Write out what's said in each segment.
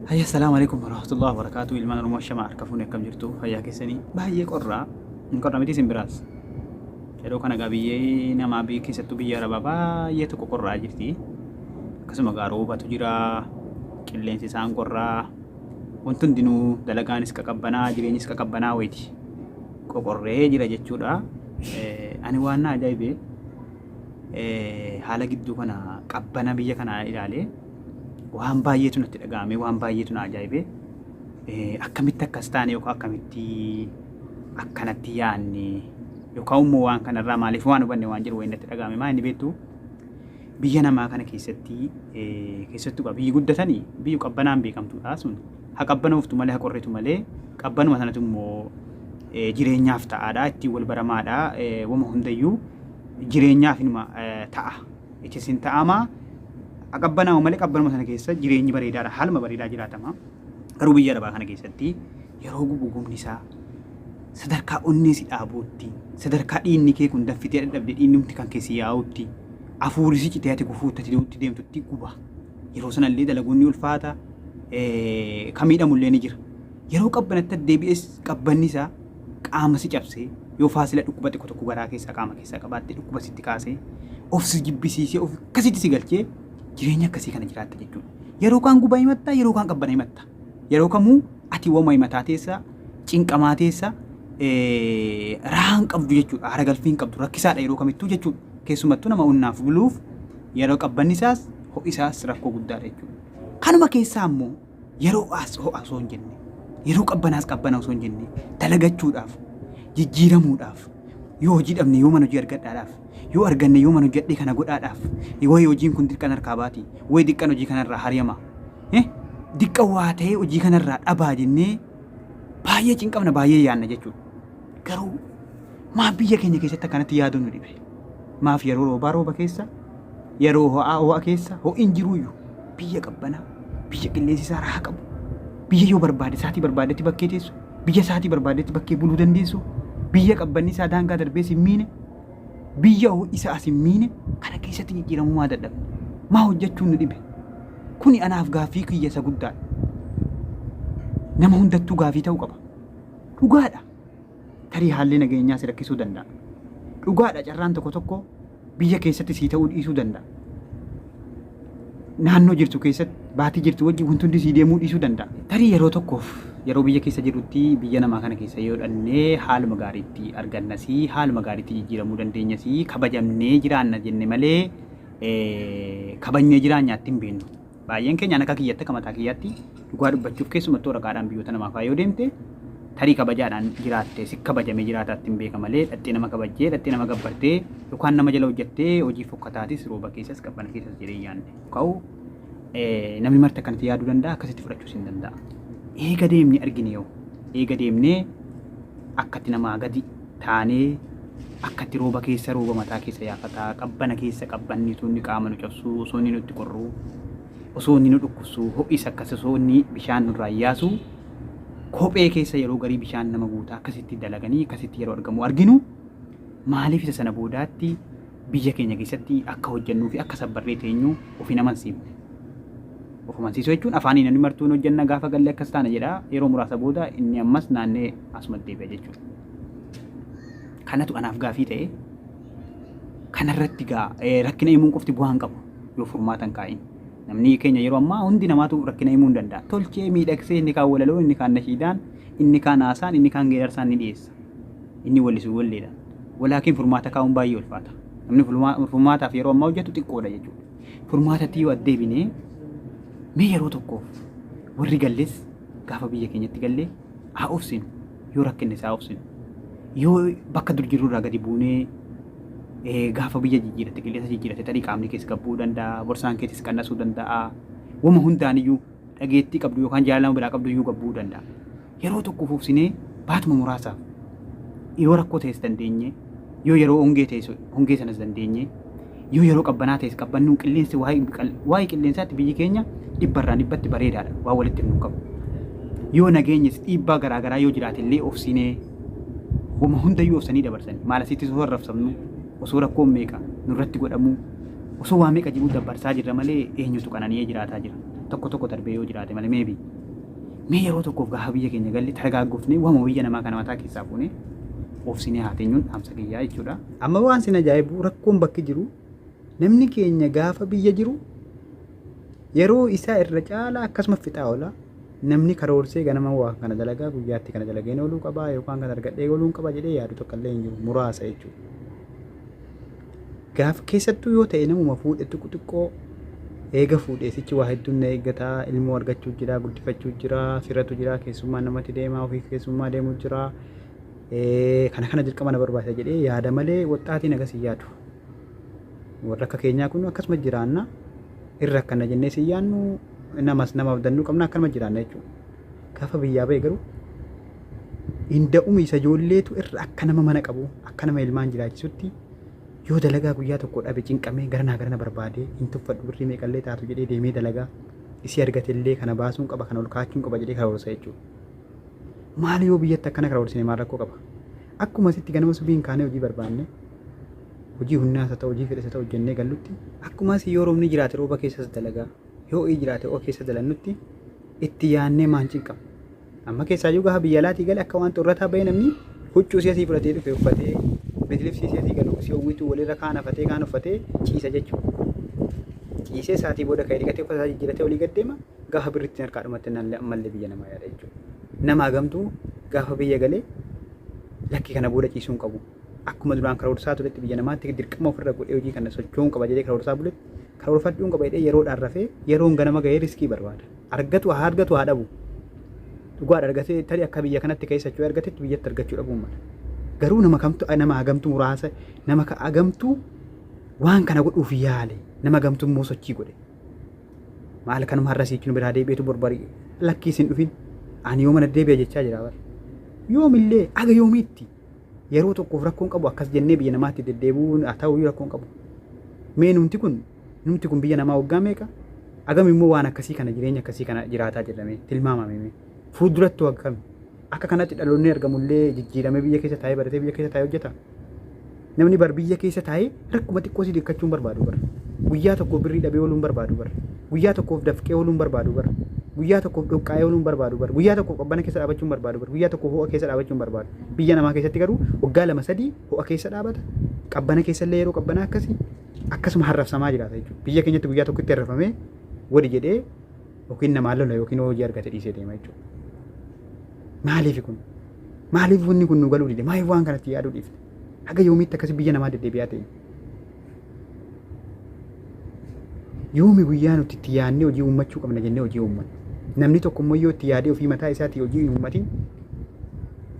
Hayya salaamu alaikum warahmatullahi wabarakatuh ilmaan oromoo shama harka fuune akkam jirtu fayyaa keessanii baay'ee qorraa hin qorra miti isin biraas yeroo kana gaa biyyee namaa biyya keessattuu biyya arabaa baay'ee tokko qorraa jirti akkasuma gaa roobatu jira qilleensi isaan qorraa wanti hundinuu dalagaanis qaqabbanaa jireenyis qaqabbanaa wayti qoqorree jira jechuudha Eh, ani waan na ajaa'ibee eh, haala gidduu kana qabbana biyya kanaa ilaalee waan baay'eetu natti dhaga'ame waan baay'eetu na ajaa'ibe akkamitti akkas taane yookaan akkamitti akkanatti yaanne yookaan immoo waan kanarraa maaliif waan hubanne waan jiru wayii natti dhaga'ame maa inni beektu biyya namaa kana keessatti keessattuu qaba biyyi guddatanii biyyi qabbanaan beekamtuudha sun ha qabbanooftu malee ha qorritu malee qabbanuma sanatu immoo jireenyaaf ta'aadha ittiin wal baramaadha wama hundayyuu jireenyaaf inuma ta'a Itti isin ta'ama. Haa qabbanaa'u malee qabbanuma sana keessa jireenyi bareedaadha. Haaluma bareedaa jiraatama. Garuu biyya arabaa kana keessatti yeroo gubu gubni isaa sadarkaa onnee si dhaabuutti, sadarkaa dhiinni kee kun daffitee dadhabde dhiinnumti kan kee si yaa'utti, afuurri si citee ati gufuutti ati du'utti deemtutti guba. Yeroo sana illee dalaguun ni ulfaata. eh, Ka miidhamu illee ni jira. Yeroo qabbanatti deebi'es qabbanni isaa qaama si cabsee, yoo faasila dhukkuba xiqqo tokko garaa keessaa qaama keessaa qabaatte dhukkuba sitti kaasee, of si jibbisiisee of akkasitti si galchee jireenya akkasii kana jiraatta jechuudha. Yeroo kaan gubaa himatta, yeroo kaan qabbana himatta. Yeroo kamuu ati wama himataa teessa, cinqamaa teessa, eh, rahaa hin qabdu jechuudha. Haara galfii hin qabdu. Rakkisaadha yeroo kamittuu jechuudha. Keessumattuu nama onnaaf buluuf yeroo qabbanni isaas ho'i isaas rakkoo guddaadha jechuudha. Kanuma keessaa immoo yeroo ho'aas ho'a osoo hin jenne, yeroo qabbanaas qabbana osoo hin jenne, dalagachuudhaaf, jijjiiramuudhaaf, yoo hojii dhabne yoo mana hojii argadhaadhaaf, yoo arganne yoo mana hojjedhee kana godhaadhaaf, wayi hojiin kun dirqan harkaa baati, wayi diqqan hojii kanarraa hariyama, eh, diqqa waa ta'ee hojii kanarraa dhabaa jennee baay'ee cinqamna, baay'ee yaanna jechuudha. Garuu maaf biyya keenya keessatti akkanatti yaaduu nu dhibe? Maaf yeroo roobaa rooba keessa, yeroo ho'aa ho'a keessa, ho'iin jiruuyyu biyya qabbanaa, biyya qilleensi isaa raaha qabu, biyya yoo barbaade saatii barbaadetti bakkee teessu, biyya saatii barbaadetti bakkee buluu dandeessu, biyya qabbanni isaa daangaa darbee sin miine, biyya ho'i isaa sin miine kana keessatti jijjiiramuu maa dadhabne? Maa hojjechuun nu dhibe? Kuni anaaf gaaffii kiyya isa guddaadha. Nama hundattuu gaaffii ta'uu qaba. Dhugaadha, tarii haalli nageenyaa si rakkisuu danda'a. Dhugaadha, carraan tokko tokko biyya keessatti sii ta'uu dhiisuu danda'a. Naannoo jirtu keessatti baatii jirtu wajjin wanti hundi sii deemuu dhiisuu danda'a. Tarii yeroo tokkoof yeroo biyya keessa jirrutti biyya namaa kana keessa yoo dhannee haaluma gaariitti argannasii haaluma gaariitti jijjiiramuu dandeenyasii kabajamnee jiraanna jenne malee kabajnee jiraanyaatti hin beeknu. Baay'een keenya an akka kiyyatti akka mataa kiyyaatti dhugaa dubbachuuf keessumattuu waraqaadhaan biyyoota namaa fa'aa yoo deemte tarii kabajaadhaan jiraatte si kabajamee jiraataatti hin beeka malee dhaxxee nama kabajjee dhaxxee nama gabbartee yookaan nama jala hojjattee hojii fokkataatis rooba keessas qabbana keessas jedhee yaanne ka'u namni marti akkanatti yaaduu danda'a akkasitti fudhachuus hin danda'a. Eega deemnee argine yoo eega deemnee akkatti namaa gadi taanee akkatti rooba keessa rooba mataa keessa yaafataa qabbana keessa qabbanni osoo inni qaama nu cabsuu osoo inni nutti qorruu osoo inni nu dhukkubsuu ho'is akkas osoo inni bishaan nurraa yaasu kophee keessa yeroo garii bishaan nama guutaa akkasitti dalaganii akkasitti yeroo argamu arginu maaliif isa sana boodaatti biyya keenya keessatti akka hojjennuu fi akka sabbarree teenyu of hin amansiifne. Of amansiisuu jechuun afaanii namni martuu hin hojjenna gaafa galle akkas taana jedha yeroo muraasa booda inni ammas naannee asuma deebi'a jechuudha. Kanatu anaaf gaafii ta'e kanarratti gaa rakkina himuun qofti bu'aa hin qabu yoo furmaata hin kaa'in. Namni keenya yeroo ammaa hundi namaatu rakkina himuu hin danda'a. Tolchee miidhagsee inni kaan walaloo inni kaan nashiidaan inni kaan haasaan inni kaan geerarsaan ni dhiyeessa. inni wallisu walleedhaan. Walaakiin furmaata kaa'uun baay'ee ulfaata. Namni furmaataaf yeroo ammaa hojjetu xiqqoodha jechuudha. Furmaatatti yoo addeebinee mee yeroo tokkoof warri galles gaafa biyya keenyatti gallee haa obsinu yoo rakkinne isaa obsinu yoo bakka dur jirru irraa gadi buunee gaafa biyya jijjiiratte qilleensa jijjiiratte tarii qaamni kees gabbuu danda'a borsaan keetis qannasuu danda'a wama hundaaniyyuu dhageettii qabdu yookaan jaalala nama biraa qabdu iyyuu gad bu'uu danda'a. Yeroo tokko fuufsinee baatuma muraasaaf yoo rakkoo ta'es dandeenye yoo yeroo hongee ta'es hongee sanas dandeenye yoo yeroo qabbanaa ta'es qabbannuun qilleensi waa'ee qilleensaatti biyyi keenya dhibbarraan dhibbatti bareedaadha waan walitti nu qabu. Yoo nageenyis dhiibbaa garaagaraa yoo jiraate illee obsinee homa hundayyuu obsanii dabarsan maal asitti soo harrafsamnu Osoo rakkoon meeqa nurratti godhamuu, osoo waa meeqa jiruu dabbarsaa jirra malee eenyutu qanani'ee jiraataa jira? Tokko tokko darbee yoo jiraate malee maybe. Mee yeroo tokkoof gaafa biyya keenya galle taragaaggofnee waanuma biyya namaa kana mataa keessaa fuunee oofsinee haa teenyuun dhaamsa kiyyaa jechuudha. Amma waan sin ajaa'ibu rakkoon bakki jiru namni keenya gaafa biyya jiru yeroo isaa irra caalaa akkasuma fixaa oola. Namni karoorsee ganama waa kana dalagaa guyyaatti kana dalageen ooluu qaba yookaan kana argadhee ooluun qaba jedhee yaadu tokko illee hin jiru muraasa jechuudha. Gaaf keessattuu yoo ta'e namuma fuudhe xiqqoo xiqqoo eega fuudhee sichi waa hedduun na eeggata ilmoo argachuu jira guddifachuu jira firatu jira keessummaa namatti deema ofii keessummaa deemu jira kana kana dirqama na barbaachisa jedhee yaada malee waxxaatiin agas hin yaadu. Warra akka keenyaa kun akkasuma jiraanna. Irra akkana jennee si yaannu namas nama abdannuu qabna akkanuma jiraanna jechuudha. Gaafa biyyaa ba'e garuu hinda'uma isa ijoolleetu irra akka nama mana qabu akka nama ilmaan jiraachisutti yoo dalagaa guyyaa tokko dhabe cinqamee garanaa garana barbaadee hin tuffadhu birrii meeqallee taatu jedhee deemee dalagaa isii argatellee kana baasuun qaba kana ol kaachuun qaba jedhee karoorsa jechuudha. Maali yoo biyyatti akkana karoorsine maal rakkoo qaba? Akkuma asitti ganama subii hin kaanee hojii barbaanne hojii humnaas haa ta'u hojii fedhes haa ta'u hojjennee gallutti akkumas yoo roobni jiraate rooba keessas dalagaa yoo ho'i jiraate ho'a keessa dalannutti itti yaannee maan cinqamu. Amma keessaayyuu gaafa biyya alaatii gale akka waan xurrataa bahee namni huccuu si'asii fudhatee dhufe uffatee bitlibsii si'asii galu si hawwitu walirra kaan hafatee kaan uffatee ciisa jechuudha. Ciisee sa'aatii booda ka'ee dhiqatee uffata isaa jijjiiratee olii gad deema gaafa birri ittiin harkaa dhumatte naan ammallee biyya namaa yaada jechuudha. Nama hagamtuu gaafa biyya galee lakki kana booda ciisuu hin qabu. Akkuma duraan karoorsaa turetti biyya namaatti dirqama ofirra godhee hojii kana socho'uun qaba jedhee karoorsaa buletti karoorfadhuun qaba jedhee yeroodhaan rafee yeroon ganama gahee riskii barbaada. Argatu haa argatu haa dhabu. Dhugaadha argatee tarii akka biyya kanatti ka'ee socho'ee argatetti biyyatti argachuu dhabuun mala. Garuu nama kamtu nama hagamtu muraasa nama hagamtu waan kana godhuuf yaale nama hagamtu immoo sochii godhe. Maal kanuma har'a siikinu biraa deebi'etu barbarii lakkii isin dhufin ani yoo mana deebi'a jechaa jira bara. Yoomillee aga yoomiitti yeroo tokkoof rakkoon qabu akkas jennee biyya namaatti deddeebi'uun haa ta'u rakkoon qabu. Mee numti kun numti kun biyya namaa waggaa meeqa agam immoo waan akkasii kana jireenya akkasii kana jiraataa jedhame tilmaamame fuulduratti akkam akka kanatti dhaloonni argamullee jijjiiramee biyya keessa taa'ee baratee biyya keessa taa'ee hojjeta. Namni bar biyya keessa taa'ee Rakkuma xiqqoo si dikkachuun barbaadu bar. Guyyaa tokkoof birrii dhabee ooluun barbaadu bar. Guyyaa tokkoof dafqee ooluun barbaadu bar. Guyyaa tokkoof dhoqqaa'ee ooluun barbaadu bar. Guyyaa tokkoof qabbana keessa dhaabachuun barbaadu bar. Guyyaa tokkoof ho'a keessa dhaabachuun barbaadu. Biyya namaa keessatti garuu waggaa lama sadii ho'a keessa dhaabata. Qabbana keessa illee yeroo qabbanaa akkasi akkasuma harrafsamaa jiraata jechuudha. Biyya keenyatti guyyaa tokkotti harrafamee wadi jedhee yookiin namaan lola yookiin hojii argate dhiisee deema jechuudha. Maaliif kun? Maaliif wanni kun nu galuu dide? Maaliif waan kanatti yaaduu dhiifne? Haga yoomiitti akkasi biyya namaa deddeebi'aa ta'e. Yoomi guyyaa nuti itti yaadnee hojii uummachuu qabna jennee hojii uummanna. Namni tokko immoo yoo itti yaadee ofii mataa isaatii hojii hin uummatin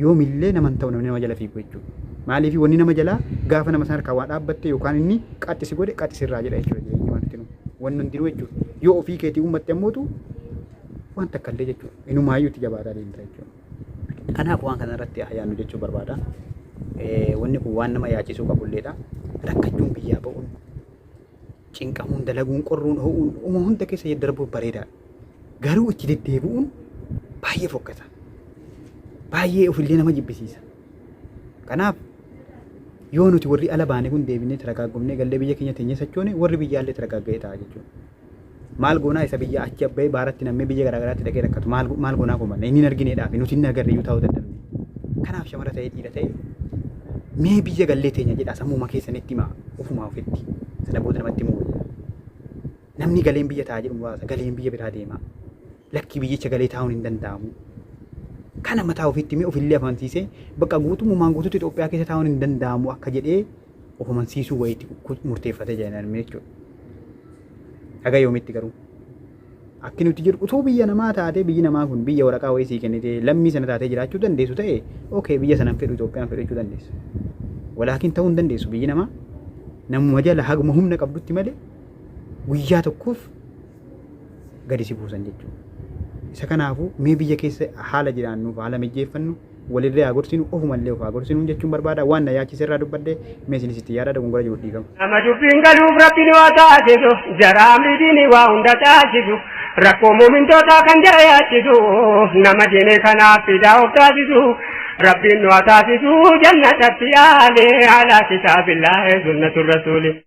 yoomillee nama hin ta'u namni nama jala fiigu jechuudha. Maaliif wanni nama jalaa gaafa nama sana harkaa waa dhaabbatte yookaan inni qaxxi si godhe qaxxi sirraa jedha jechuudha jireenyi waan itti wanni hundinuu jechuudha. Yoo ofii keetii uummatte ammootu waan takka illee jechuudha. Inumaayyuu itti jabaataa deemta jechuudha. Kanaaf waan kana irratti haa yaadnu jechuu barbaada. Eh, Wanni kun waan nama yaachisuu qabulleedha. Rakkachuun biyyaa ba'uun, cinqamuun, dalaguun, qorruun, ho'uun, uma hunda keessa yaddarbuun bareedaadha. Garuu itti deddeebi'uun baay'ee fokkisa. Baay'ee ofillee nama jibbisiisa. Kanaaf yoo nuti warri ala baane kun deebinee taragaagomnee gallee biyya keenya teenyee sochoone warri biyyaallee taragaagga'ee ta'a jechuudha. Maal goonaa isa biyya achi abba'ee baaratti nammee biyya garaa garaatti dhaqee rakkatu maal go- maal goonaa kumanna inni hin argineedhaafi nuti hin agarre iyyuu taa'uu dadhabne. Kanaaf shamara ta'ee dhiira ta'e mee biyya gallee teenya jedhaa sammuuma keessanitti himaa ofumaa ofitti sana booda namatti himuu wayya. Namni galeen biyya taa'a jedhu muraasa galeen biyya biraa deema. Lakkii biyyicha galee taa'uun hin danda'amu. Kana mataa ofiitti mee ofillee amansiisee bakka guutummaan guutuutti Itoophiyaa keessa taa'uun hin danda'amu akka jedhee of amansiisuu wayiitti kut- murteeffatee jira hin armee jechuudha. Haga yoomitti garuu? Akki nuti jedhu utuu biyya namaa taatee biyyi namaa kun biyya waraqaa wayii sii kennitee lammii sana taatee jiraachuu dandeessu ta'e okay biyya sana hin fedhu Itoophiyaan fedhu jechuu dandeessa. Walaakin ta'uu hin dandeessu biyyi namaa namuma jala haguma humna qabdutti malee guyyaa tokkoof gadi si buusan jechuudha. Isa kanaafuu mee biyya keessa haala jiraannuuf haala mijeeffannu Walirree haa gorsinu, ofumallee of haa gorsinu jechuun barbaada. Waan na yaachise irraa dubbadhe, mee isinis itti yaadaa dogongora jiruuf dhiifama. Nama dubbiin galuuf Rabbiin waa taasisu, jara amri diinii waa hunda taasisu, rakkoo muumintootaa kan jara yaachisu, nama diinee kanaaf fidaa of taasisu, Rabbiin nu haa taasisu jannatatti aale, ala kitaabillahi sunnatu rasuuli.